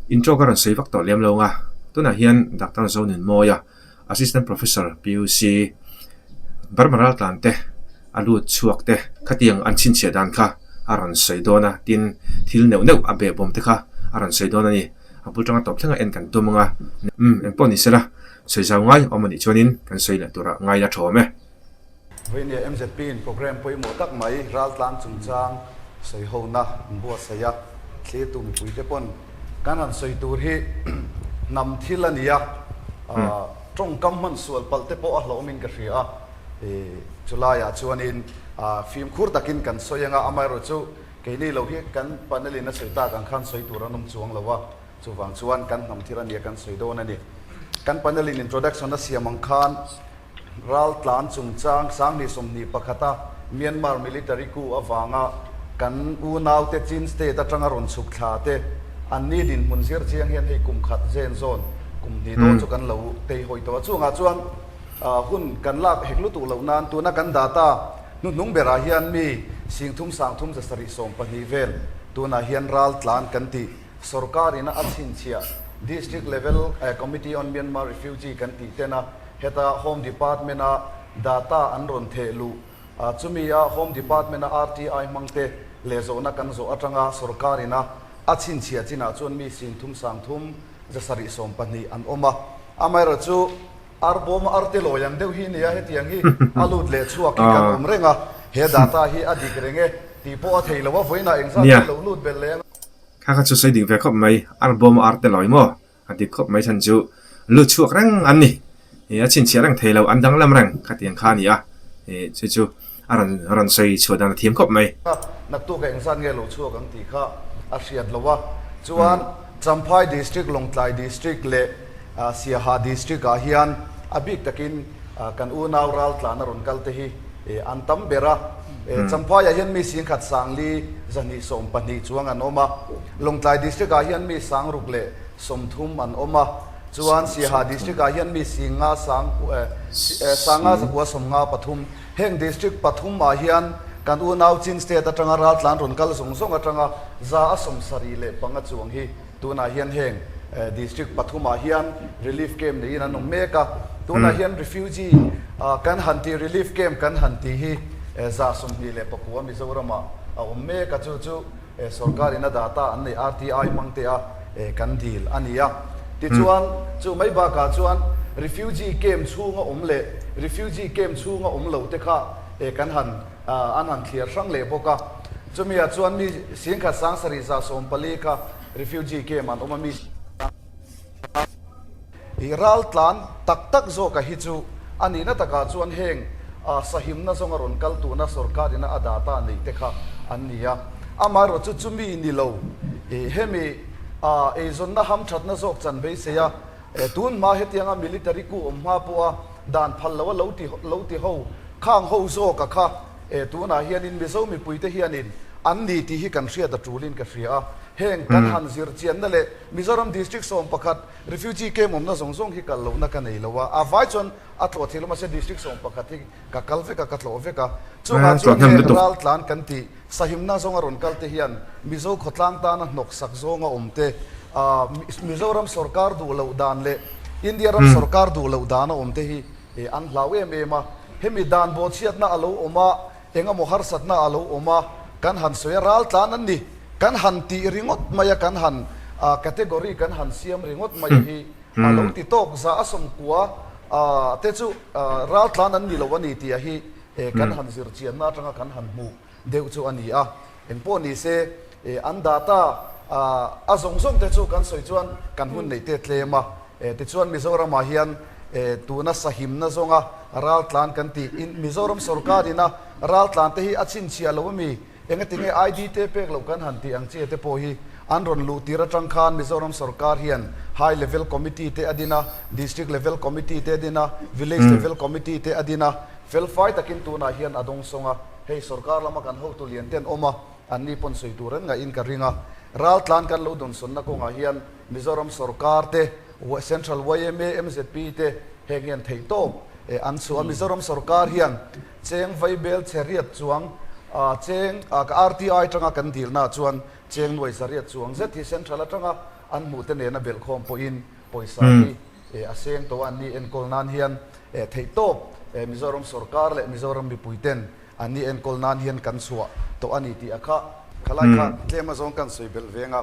Intro ka rawn sawi vak tawh lem lo ang a, tunah hian Doctor Zonin Mawia, Assistant Professor, PUC, Burma Raltlan te a lut chhuak te khatiang an chhinchhiah dan kha a rawn sawi dawn a, tin, thil neuh neuh a bebawm te kha a rawn sawi dawn a ni. A bul tanga tawp thlengah en kan tum ang a, umm, engpawh ni sela sawi zau ngai awm a nih chuanin kan sawi leh turah ngai la thawm e. Veinia MZP in programme pawimawh tak mai raltlang chungchang sawi hona an buatsaih a, thlitu mipuite pawn kan rawn sawi tur hi hnam thil a nia, tawngkam hmansual palh te pawh a hlawmin ka hria a, chu laiah chuanin fimkhur takin kan sawi anga amaherawhchu keini lo hi kan panel in a sawi tak ang khan sawi tur an awm chuang lo a. Chuvang chuan kan hnam thil ania kan sawi dawn a ni. Kan panel in introduction a siam ang khan ral tlan chungchang Sangni sawmhnih pakhata Myanmar military coup avanga kan unaute Chin state atanga rawn chhuk thla te an ni dinhmun zir chiang hian hei kum khat zen zawn kum hnih dawn chu kan lo tei hawi tawh a. Chungah chuan hun kan lak hek lutuk loh nan tuna kan dah ta hnuhnung berah hian mi singthum sangthum zasarih sawm pahnih vel tunah hian ral tlan kan tih Sorkarin a chhinchhia District Level Committee on Myanmar Refugee kan tih ten a, heta Home Department a data an rawn theh luh a, chumi a Home Department a RTI hmang te lehzawhna kan zawh atanga sorkarin a a chhinchhia chin ah chuan mi sin thum sang thum ze sarih sawm pahnih an awm a, amaherawh chu ar bawm ar te lawi ang deuh hi nia hetiang hi a lut leh chhuak hi kan awm reng a, he data hi a dik reng e tih pawh a thei lo a vawiinah engzat hi a lo lut belh leh ang a. Kha kha chu sawi ding ve khawp mai, ar bawm a ar te lawi maw? A dik khawp mai chhan chu, Lu chhuak reng an ni. Ih, a chhinchhiah reng thei lo, an danglam reng kha ti ang kha a ni a. Ih, chu chu a rawn, a rawn sawi chhuah dan a thiam khawp mai. Kha, naktuka eng zat nge lu chhuak ang tih kha a hriat lo a. Chuan Champhai District, Lawngtlai District leh. Siaha District ah hian a bik takin kan unau ral tlana rawn kal te hi an tam ber a, Champhai ah hian mi sing khat sangli zahnih sawm pahnih chuang an awm a, Lawngtlai District ah hian mi sang ruk leh sawm thum an awm a, chuan Siaha District ah hian mi sing nga sang sang nga zakua sawm nga pathum, heng District pathum ah hian kan unau Chin State atanga ral tlan rawn kal zawng zawng atanga za a sawm sarih leh panga chuang hi. Tunah hian heng District pathumah hian Relief Camp niin an awm mek a. Tunah hian Refugee kan han tih Relief Camp kan han tih hi zah sawmhnih leh paku a Mizoramah a awm mek a. Chu chu sorkarin a dah ta an neih RTI hmang te a kan dil a ni a. Tichuan, chu mai bakah chuan Refugee Camp chhunga awm leh Refugee Camp chhunga awm lo te kha kan han. an han thliar hrang leh bawk a. Chumi ah chuan mi singkhat sang sarih zah sawm pali kha refugee camp an awm a, mi singkhat ral tlan tak tak zawk a hi chu a nihna tak ah chuan heng sahimna zawng a rawn kal tun a sorkar in a dah ta neih te kha an ni a. Amaherawh chu chumi ni lo hemi eizawnna ham thatna zawk chanveisei a tun hma hetiang a military kuh awm hma pawh a, dan phal lo a lo ti lo ti ho khang ho zawk a kha e tunah hianin Mizo mipuite hianin an ni tih hi kan hriat a tulin ka hria a, heng kan han zir chianna leh Mizoram District sawm pakhat refugee camp awmna zawng zawng hi kal lohna ka nei lo a, a vai chuan a tlawh theilo mahse District sawm pakhat hi ka kal vek a ka tlawh vek a, chungah chuan heng ral tlan kan tih Sahimna zawng a rawn kal te hian Mizo khawtlang tana hnawksak zawng a awm te, Mizoram sawrkar duh loh dan leh India ram sawrkar duh loh dan a awm te hi an hlau em em a. Hemi dan bawhchhiatna a lo awm a, engemaw harsatna a lo awm a, kan han sawi a, ral tlan an ni, kan han tih ringawt mai a, kan han category kan han siam ringawt mai a hi a lo ti tawk. Za a sawmkua te chu ral tlan an ni lo a ni tih a hi e, kan han zir chianna atanga kan han hmuh deuh chu a ni a, engpawh ni se e, an data a a zawng zawng te chu kan sawi chuan kan hun neih te tlem a, e, tichuan Mizoramah hian e, tuna sahimna zawnga raltlan kan ti in Mizoram sawrkarin a raltlan te hi a chhinchhiah lo a mi Enga tinge ID te pek lo kan han tih ang che te pawh hi an rawn luh tir atang khan Mizoram sawrkar hian High Level Committee te a din a, District Level Committee te a din a, Village Level Committee te a din a. Felfai takin tunah hian a dawng sawng a, hei sawrkar lama kan hotu lian ten awm a, anni pawn sawi tur en ngaihin ka ring a. Ral tlan kan lo dunsawnna kawngah hian Mizoram sawrkar te, Central yma, mzp te heng hian theihtawp an suh a. Mizoram sawrkar hian. Cheng vaibel chheriat chuang a cheng a ka RTI atanga kan dilnaah chuan cheng nuai zariat chuang zet hi central atanga an hmuh te nena belkhawm pawhin pawisa hi eh a seng tawh a an nih enkawl nan hian eh theihtawp eh Mizoram sorkar leh Mizoram mipui ten an nih enkawl nan hian kan chhuah tawh a ni tih a kha khalaikha tlema zawng kan sawi belh veng a.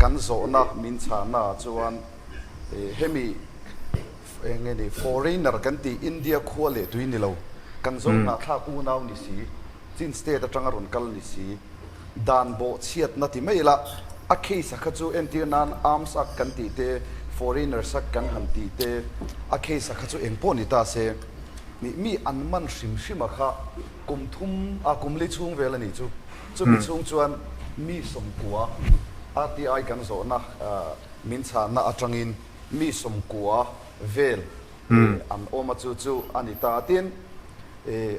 Kan zawhnak min chahna ah chuan hemi eng nge ni foreigner kan tih India khua leh tui ni lo, kan zawh hnahthlak unau ni si, Chin state atanga rawn kal ni si, dan bawh chhiatna ti mai ila, a case a kha chu entir nan arms act kan tih te, foreigners act kan han tih te, a case a kha chu eng pawh ni ta se nih mi an man hrim hrim a kha kum thum a kum li chhung vel a ni chu. Chumi chhung chuan mi sawmkua RTI kan zawhna min chhahna atangin mi sawmkua vel an awma chu chu a ni ta. Tin,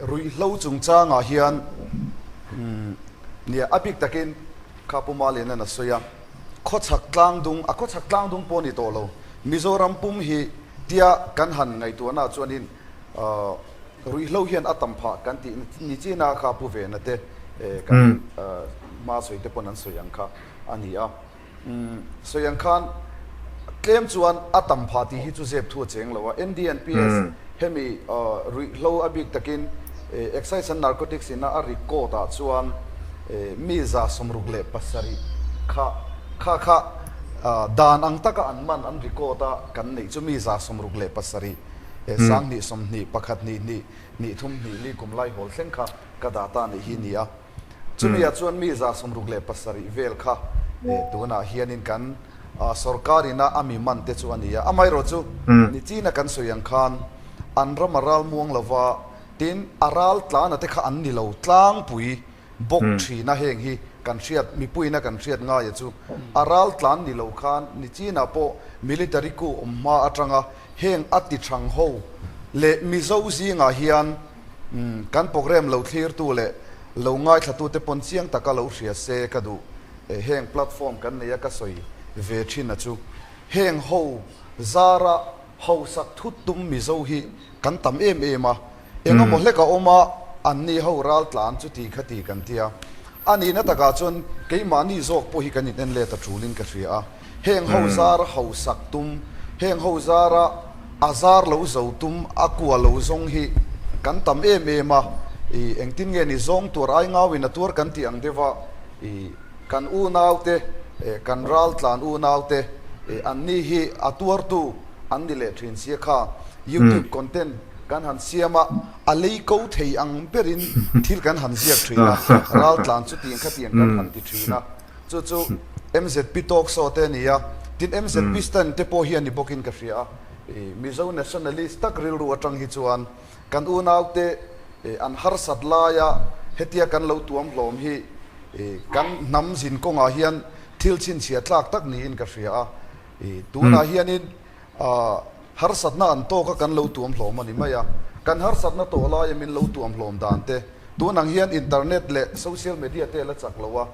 ruihhlo chungchangah hian nia a bik takin kha Pu Malian-a'n a sawi a, khawchhak tlangdung, a khawchhak tlangdung pawh a ni tawh lo, Mizoram pum hi tia kan han ngaihtuahnaah chuanin Ruihhlo hian a tam phah kan tih ni china kha pu vena te kan hma sawi te pawn an sawi ang kha a ni a. Sawi ang khan tlem chuan a tam phah tih hi chu zep thu a cheng lo a. NDNPS hemi ruihhlo a bik takin Excise and Narcotics ina a rik code ah chuan mi za sawmruk leh pasarih kha kha kha dan ang taka an man an ri code a kan neih chu mi za sawmruk leh pasarih he sang hnih sawm hnih pakhat hnih hnih hnih thum hnih li kum lai hawl thleng kha ka dah ta nih hi ni a. Chumi ah chuan mi za sawmruk leh pasarih vel kha eh tun ah hian in kan ah sorkar in a ami man te chu a ni a. Amaherawh chu ni chin a kan sawi ang khan an ram a ral muang lova tin a ral tlana te kha an ni lo tlangpui. Bawk thin a heng hi kan hriat mipuiin a kan hriat ngai a chu a ral tlan ni lo khan ni chin ah pawh military ku awm hma atang a heng a ti thang ho leh mizo zing ah hian umm kan programme lo thlir tu leh lo ngaithla tu te pawn chiang tak a lo hria se ka duh eh heng platform kan nei a ka sawi ve thin a chu heng ho zar a hausak thut tum mizo hi kan tam em em a. Engemaw hlek a awm a, anni ho ral tla an chu ti kha ti kan tia. A nihna takah chuan keimahni zawk pawh hi kan in en let a tulin ka hria a, heng ho zar ho sak tum, heng ho zara a zar lo zo tum, a kua lo zawng hi kan tam em em a, i engtin nge ni zawng tuar ai ngau in a tuar kan tih ang deuh a, i kan unau te, kan ral tlan unau te, anni hi a tuar tu an ni leh thin sia kha, youtube content. Kan han siam a, a lei ko thei ang berin thil kan han ziak thin a, ral tlan chu ti engkha ti engkha an han ti thin a, chu chu mzp talk show te a ni a, tin mzp stand te pawh hi a ni bawkin ka hria a, Mizo nationalist tak rilru atang hi chuan kan unau te an harsat lai a, hetia kan lo tuam hlawm hi kan hnam zin kawngah hian thil chhinchhiah tlak tak niin ka hria a, tunah hianin. A harsatna an tawk a kan lo tuam hlawm a ni mai a, kan harsatna tawh laia min lo tuam hlawm dan te, tun ang hian internet leh social media te la chak lo a,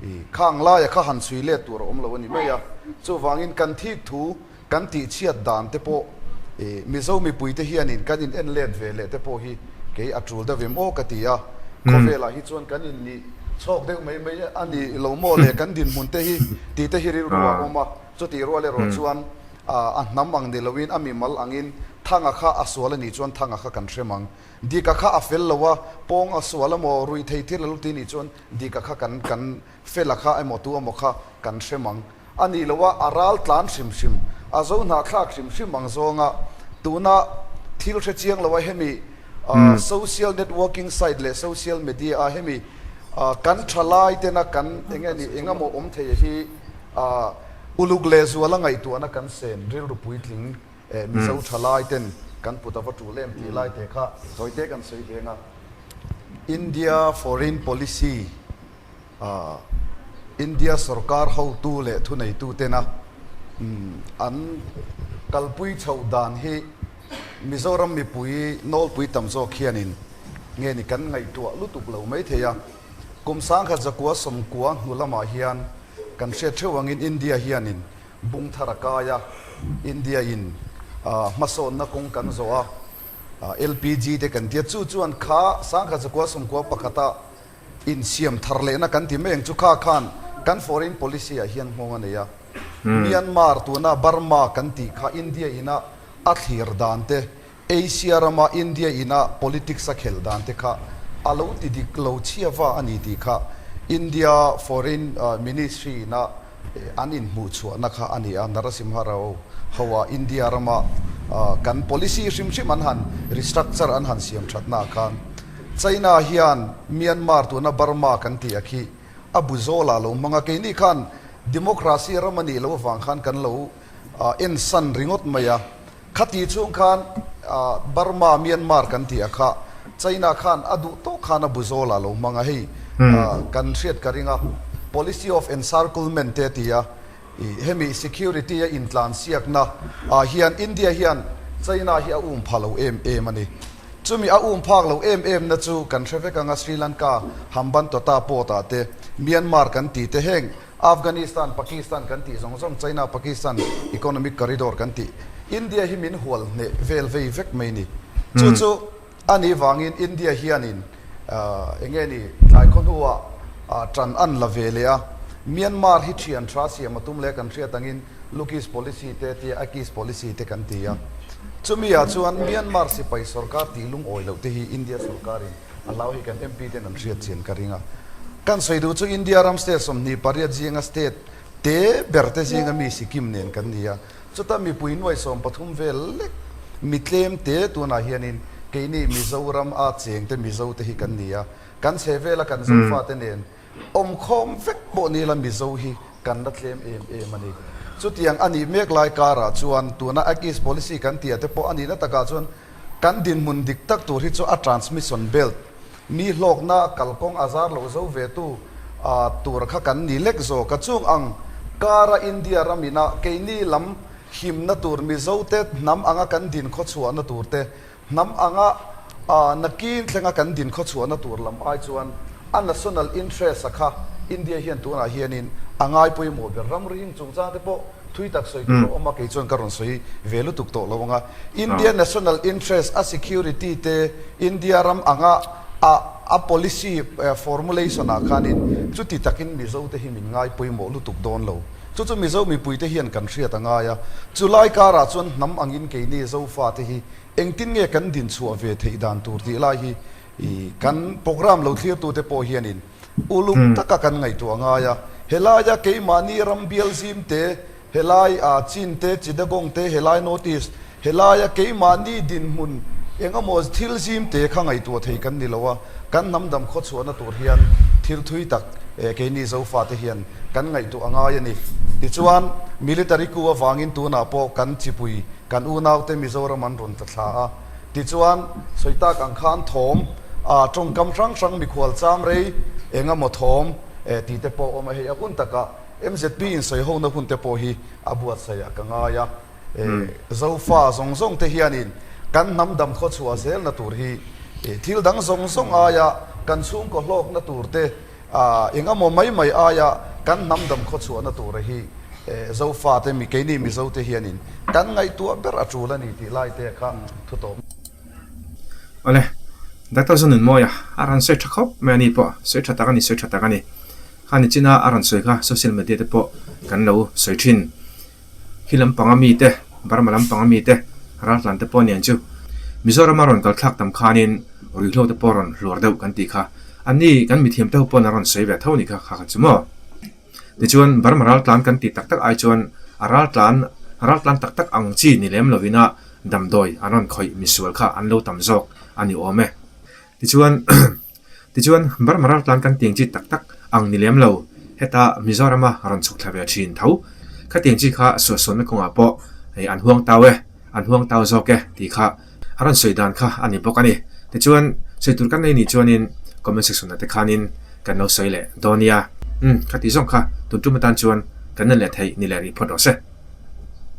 i khang laia kha han chhui let tur a awm lo a ni mai a, chuvangin kan thik thu kan tih chhiat dan te pawh i Mizo mipui te hianin kan in en let ve leh te pawh hi kei a tul deuh em aw ka ti a, khawvelah hi chuan kan in nih chhawk deuh mai mai a ni lo maw le kan dinhmun te hi tih te hi rilru a awm a. Chutih rual erawh chuan a hnam ang ni loin a mimal angin thanga kha a sual a nih chuan thanga kha kan hrem ang. Dika kha a fel lo a, pawng a sual a maw, rui thei thir la luti nih chuan dika kha kan kan fela kha emaw tu emaw kha kan hrem ang a nih lo a, a ral tlan hrim hrim, a zo hnahthlak hrim hrim ang zawnga tuna thil hre chiang lo a hemi social networking site leh social media-a hemi kan tha laitena kan eng nge ni engemaw awm theia hi a uluk leh zual a ngaihtuahna kan sen, rilru puitling eh Mizo tha laiten kan put a va tuh lem tih lai te kha chawite kan sawi veng a. India foreign policy ah India sorkar hotu leh thuneitu tena an kalpui chho dan hi Mizoram mipui nawlpui tam zawk hianin nge ni kan ngaihtuah lutuk lo mai thei a. Kum sangkhat zakua sawmkua hnu lamah hian kan hriat theuh angin India hianin bung thar a kai a, India-in hmasawnna kawng kan zawh a, LPG te kan tia chu chuan kha sangkhat zakua sawmkua pakhata insiam thar lehna kan ti mai ang chu kha khan kan foreign policy-ah hian nghawng a nei a. Myanmar, tuna Burma kan tih kha India-ina a thlir dan te, Asia rama India ina politics a khel dan te kha a lo ti dik lo chhia va a ni tih kha India Foreign Ministry ina an inhmuh chhuahna kha a ni a. Narasimha Rao hoa India rama kan policy hrim hrim an han restructure an han siam thatna ah khan China hian Myanmar tuna Burma kan tih a khi a bu zawl a lo hmang a. Kei ni khan democracy ram a nih loh avang khan kan lo en san ringawt mai a. Khati chung khan Burma, Myanmar kan tih a kha. China khan a duh tawk khan a bu zawl a lo hmang a hei kan hriat ka ring a. Policy of encirclement te ti a, hemi security a intlan siakna ah hian India hian China hi a um pha lo em em a ni. Chumi a um phak lo em em na chu kan hre vek ang a, Sri Lanka, Hambantota port ah te, Myanmar kan ti te heng Afghanistan, Pakistan kan tih zawng zawng, China, Pakistan Economic Corridor kan tih. India hi min hual hneh vel vei vek mai ni. Chu chu a nih vangin India hianin eng nge ni tlai khaw hnu ah tan an la ve leh a. Myanmar hi thian tha siam a tum leh kan hriat angin Lukis Policy te tia Akis Policy te kan ti a. Chumi ah chuan Myanmar sipai sorkar tih lungawi loh te hi India sorkarin A hlau hi kan MP ten an hriat chian ka ring a. Kan sawi duh chu India ram state sawmhnih pariat zinga state te berte zinga mi Sikkim nen kan ni a. Chuta mipui nuai sawm pathum vel lek mi tlem te tunah hianin keini Mizoram a cheng te Mizo te hi kan ni a. Kan chhe vela kan Zofate nen Awmkhawm vek pawh nila Mizo hi kan la tlem em em a ni. Chutiang a nih mek lai karah chuan tuna Act East Policy kan ti a te pawh a nihna takah chuan kan dinhmun dik tak tur hi chu a transmission belt, mi hlawkna kalkawng a zar loh zo ve tu, a tur kha kan ni lek zawk a. Chung ang kara India ram ina keini lam himna tur Mizote hnam anga kan din khawchhuahna tur te, Hnam anga na kîn thlenga kan din khaw chhuahna tur lam ai chuan a national interest-a kha India hian tunah hianin a ngai pawimawh ber. Ram rihing chungchang te pawh thui tak sawi tur a awm a, kei chuan ka rawn sawi ve lutuk tawh lo ang a. India national interest, a security te, India ram anga a policy formulation-ah khanin chuti takin Mizo te hi min ngai pawimawh lutuk dawn lo. Chu chu Mizo mipuite hian kan hriat a ngai a, chu lai karah chuan hnam angin kei nge Zofate hi engtin nge kan din chhuah ve theih dan tur tih lai hi kan programme lo thlirtute pawh hianin uluk taka kan ngaihtuah a ngai a. Helaia keimahni ram bialzim te, helai Chin te, Chittagong te, helai North East. He laia keimahni dinhmun engemaw thil zim te kha ngaihtuah thei kan ni lo a, kan hnamdam khawchhuahna tur hian thil thui tak keini Zofate hian kan ngaihtuah a ngai a ni. Tichuan, Military coup avangin tunah pawh kan chipui, kan unaute Mizoram an rawn tla thla a. Tichuan, sawitak ang kha an thawm a, tawngkam hrang hrang mikhual cham rei engemaw thawm ti te pawh a awm a, hei a hun takah mzp insawi hona hun te pawh hi a buatsaih a ka ngai a. Zofa zawng zawng te hianin kan hnam dam khaw chhuah zelna tur hi thil dang zawng zawng aia kan chhungkaw hlawkna tur te, engemaw mai mai aia kan hnam dam khaw chhuahna tura hi Zofa te mi keini Mizo te hianin kan ngaihtuah ber a tul a ni tih lai te kha thu tawh mai. Awle, Doctor Zone in mawi a, a rawn sawi tha khawp mai a ni pawh, sawi tha tak a ni, sawi tha tak a ni. Kha nichin a a rawn sawi kha social media te pawh kan lo sawi thin. Khi lampanga mite, Burma lampanga mite, raltlante pawh nen chu Mizorama rawn kalthlak tam khanin ruihhlote pawh rawn hluar deuh kan tih kha an ni, kan mithiamte ho pawn an rawn sawi ve tho ni kha kha kha chu maw. Tichuan Burma raltlan kan tih tak tak ai chuan a raltlan raltlan tak tak ang chi ni lem lovin a damdawi an rawn khawih misual kha an lo tam zawk a ni awm e. Tichuan, tichuan bar maral tlan kan tiang chi tak tak ang ni lem lo. Heta Mizoram a rawn chhuk thla ve thin tho. Khatiang chi kha suahsawnna kawngah pawh hei an huang tau e, an huang tau zawk e tih kha a rawn sawi dan kha a ni bawk a ni. Tichuan, sawi tur kan nei ni chuanin comment section ah te khanin kan lo sawi leh dawn nia. Umm, khati zawng kha tun tum atan chuan kan en leh thei ni le rih phawt lo se.